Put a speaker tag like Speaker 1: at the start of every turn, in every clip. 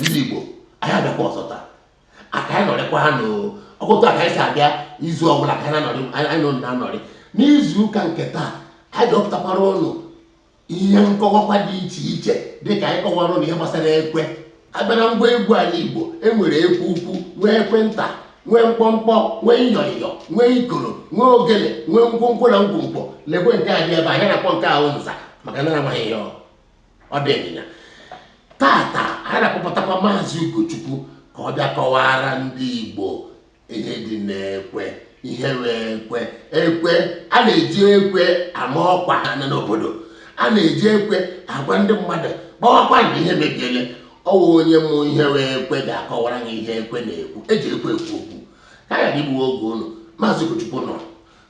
Speaker 1: ndị Igbo anyị abịakwa ọzọ taa ka anyị nọrịkwaa n'ọkụtụ aka anyị si abịa izu ọbụla ka anyị nọ na-anọrị n'izu ụka nke taa anyị dọpụtakwara ụnụ ihe nkọwakwa dị iche iche dịka anyị kọwara ụnụ ihe gbasara ekwe a bịa na ngwa egwu anyị Igbo enwere ekwe ukwu nwee ekwe nta nwee mkpọmkpọ nwee ịyọịyọ nwee ikoro nwee ogele nwee ngwongwo na ngwongwo lekwe nke a dị ebe anyị na-akpọ nke ahụ nza maka na amaghị ya ọ dị ịnyịnya tata anyị na-akpọpụtakwa maazị Ugochukwu ka ọ bịa kọwara ndị Igbo ihe dị n'ekwe ihe wụ ekwe ekwe a na-eji ekwe ama ọkwa anya n'obodo a na-eji ekwe agwa ndị mmadụ gbawakwa na ihe mebiele ọ wụ onye ma ihe wụ ekwe ga-akọwara anyị ihe ekwe na-ekwu eji ekwe ekwu okwu ka a ghara igbuwe oge ụnụ maazị Ugochukwu nọ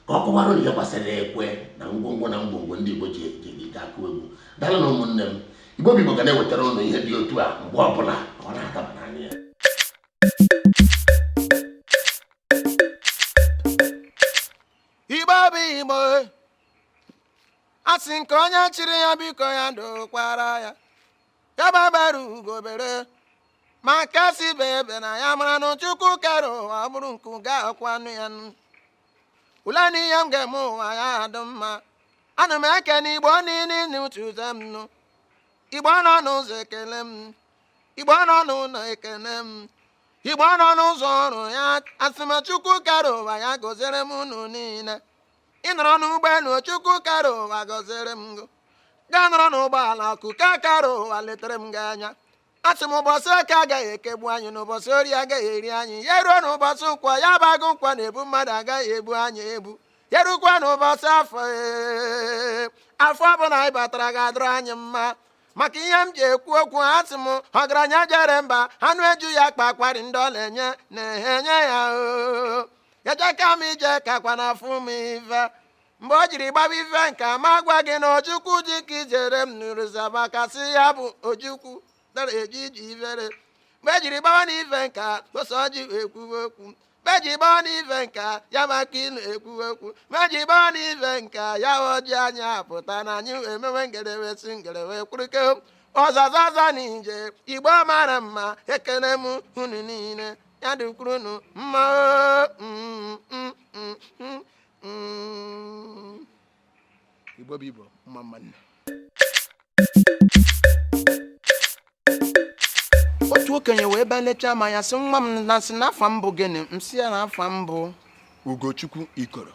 Speaker 1: ka ọ kọwara ihe gbasara ekwe na ngwongwo na ngwongwo ndị Igbo ji akụ egwu daalụ nụ ụmụnne m Igbo bụ Igbo ga na-ewetara ụnụ ihe dị otu a mgbe ọbụla ọ na-adaba n'anya
Speaker 2: ya Igbo bụ Igbo a sị nke onye chiri ya biko ya dokwara ya ya egbe bere ugo bere ma nke sị ibe ebena ya mara na Chukwu kere ụwa bụrụ nke ga-akwanụ ya nụ ule na ihe m ga-eme ụwa ya adụ mma ana m ekene igbo niile n'utu ụzọ m nụ igbo nọ n'ụzọ ekele m igbo nọ n'ụlọ ekele m igbo nọ n'ụzọ ọrụ ya asị m chukwu kere ụwa ya gọziere m unu niile ị nọrọ n'ụgbọelu chukwu kere ụwa gọziere m gị gaa nọrọ n'ụgbọala chukwu kere ụwa letere m gị anya asị m ụbọchị eke agaghị ekegbu anyị na ụbọchị orie agaghị eri anyị ya ruo na ụbọchị nkwọ ya bụ agụ nkwọ na-ebu mmadụ agaghị ebu anyị ebu ya rukwa na ụbọchị afọ ee, afọ ọbụla anyị batara ga-adịrị anyị mma maka ihe m ji ekwu okwu asị m ọgaranya jere mba anụ eju ya akpa akwarị ndị ọ na-enye na-enye ya oo ejeka m ije kakwa na afụ m ife mgbe o jiri gbaba ife nke a ma gwa gị na ojukwu dị ka ijere m nụrụzaba kasị ya bụ ojukwu dara eji iji ifere mgbe ejiri gbawa na ife nke a gosi ọjị wee kwuwe okwu mgbe eji gbawa na ife nke a ya maka ịnụ ekwuwe okwu mgbe eji gbawa na ife nke a ya ọjị anya apụta na anyị wee mewe ngere wee si ngere wee kwurike ọzazaza na ije igbo mara mma ekele m unu niile ya dịkwuru unu mma oo
Speaker 3: mm, igbo bụ igbo mma mma
Speaker 2: nụ otu okenye wee bịa lechaa m anya sị nwa m na sị na afa m bụ gịnị m sị ya na afa m bụ
Speaker 3: ugochukwu ikoro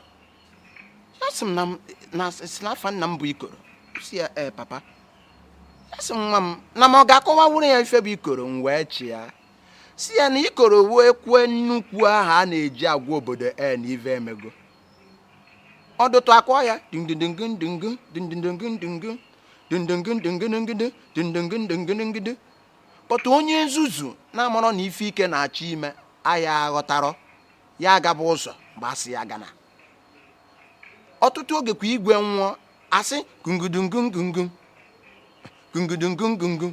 Speaker 2: ya sị m na m- na sị na afa nna m bụ ikoro m sị ya ee papa ya sị m nwa m na m ọ ga-akọwanwuru ya ife bụ ikoro m wee chịa sị ya na ikoro wụ ekwe nnukwu ahụ a na-eji agwa obodo ee na ive emego ọdụtụ a kụọ ya but onye nzuzu na-amarọ na ife ike na-achọ ime aya aghọtarọ ya agaba ụzọ mgbe a sị ya agana ọtụtụ oge kwa igwe nwụọ a sị gungudungungungum gungudungungungum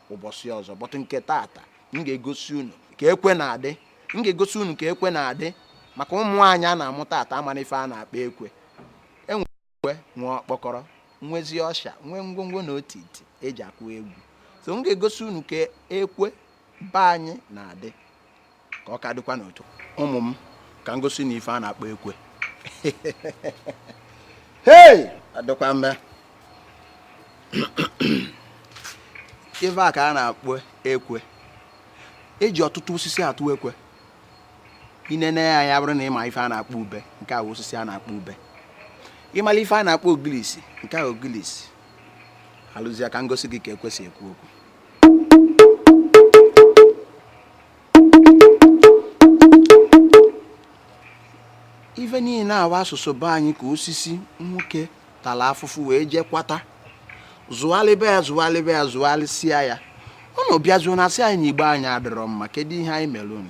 Speaker 2: ụbọchị ọzọ but nke tata m ga-egosi unu ka ekwe na-adị m ga-egosi unu ka ekwe na-adị maka ụmụ anyị a na-amụ tata amarọ ife a na-akpọ ekwe e nwee ekwe nwee okpokoro nwezi ọsha nwee ngwongwo na otiti e ji akụ egwu so m ga-egosi unu ka ekwe be anyị na-adị ka ọ ka dịkwa n'otu ụmụ m ka m gosi unu ife a na-akpọ ekwe hei adịkwa mma ife a ka a na-akpọ ekwe e ji ọtụtụ osisi atụ ekwe i nene ya ya bụrụ na ị ma ife a na-akpọ ube nke a wụ osisi a na-akpọ ube ị malụ ife a na-akpọ ogilisi nke a wụ ogilisi alụzie ka m gosi gị ka ekwe si ekwu okwu ife niile a wụ asụsụ be anyị ka osisi nwoke tala afụfụ wee jee kwata zụghalịba ya zụghalịba ya zụghalịsịa ya unu abịazuo na-asị anyị na igbo anyị adịrọ mma kedu ihe anyị melu unu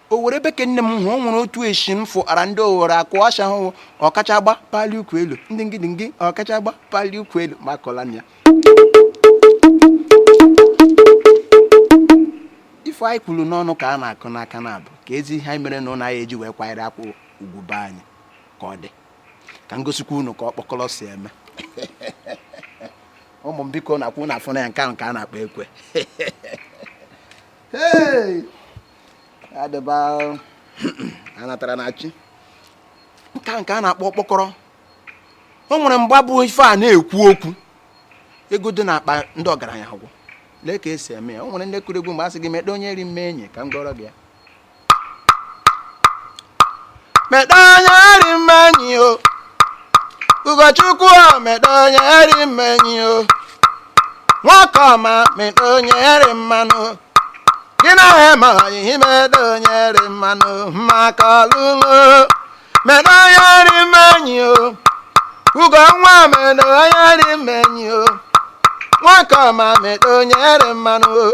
Speaker 2: owere ebe ka nne m hụ o nwere otu eshi m fụ ara ndị owere akụ ọsha ahụ ọkacha mgba pali ukwu elu ndị ngidi ngị ọkacha mgba pali ukwu elu makwala na ife anyị kwuru n'ọnụ ka a na-akụ n'aka na abụ ka ezi ihe anyị mere na ụlọ anyị eji wee kwanyere akwa ugwu be anyị ka ọ dị ka m gosikwa unu ka okpokoro si eme ụmụ m biko na-akwụ na afọ na ya nke ahụ ka a na-akpọ ekwe Hey! adịba anatara na chi nke a ka a na-akpọ okpokoro o nwere mgbe ọ bụ ife a na-ekwu okwu ego dị n'akpa ndị ọgaranya agwụ lee ka e si eme ya o nwere ndị kụrụ egwu mgbe a sị gị mede onye ri mme enyi ka m gọrọ gị ya meta onye rị mma enyi o ugochukwu o meta onye rị mma enyi o nwoke ọma meta onye rị mma nụ gị na ha ma ihe meta onye rị mma nụ maka ọlụlụ meta onye rị mma enyi o ugo nwa meta onye rị mma enyi o nwoke ọma meta onye rị mma nụ o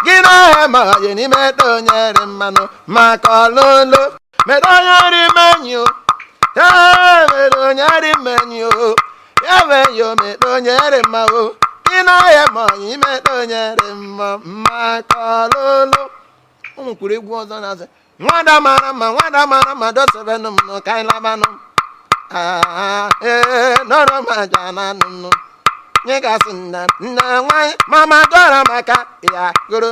Speaker 2: gị na ha ma ihe meta onye rị mma nụ maka ọlụlụ meta onye rị mma enyi ee meta onye rị mma enyi ya wee yo meta onye rị mma o gị na ha ma ihe meta onye rị mma maka ọlụlụ ụmụ kwuru egwu ọzọ na-asị nwada mara mma nwada mara mma dosebenụ m nụ ka anyị labanụ Ah, ee nọrọ m aja na anụ m nụ nye gasị nna nna nwanyị mama dọrọ maka ya goro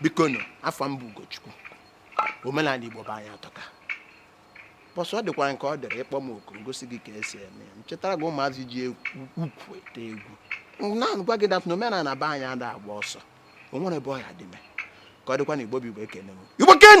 Speaker 2: biko nụ afa m bụ ugochukwu omenala igbo be anyị atọka bọsụ ọ dịkwa nke ọ dịrị ị kpọọ m oku m gosi gị ka esi eme ya m chịtara gị ụmụazị ji ukwu ete egwu na-agwa gị that na omenala be anyị ada agba ọsọ o nwere ebe ọ ya dị me ka ọ dịkwa na igbo bụ igbo ekene m igbo ken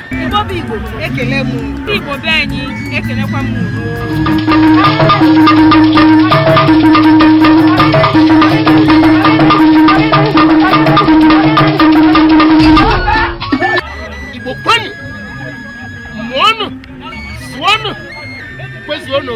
Speaker 4: Igbo bụ Igbo ekele m Igbo be
Speaker 1: anyị ekelekwa m Igbo kwenụ mụọnụ zụọnụ kwezuonụ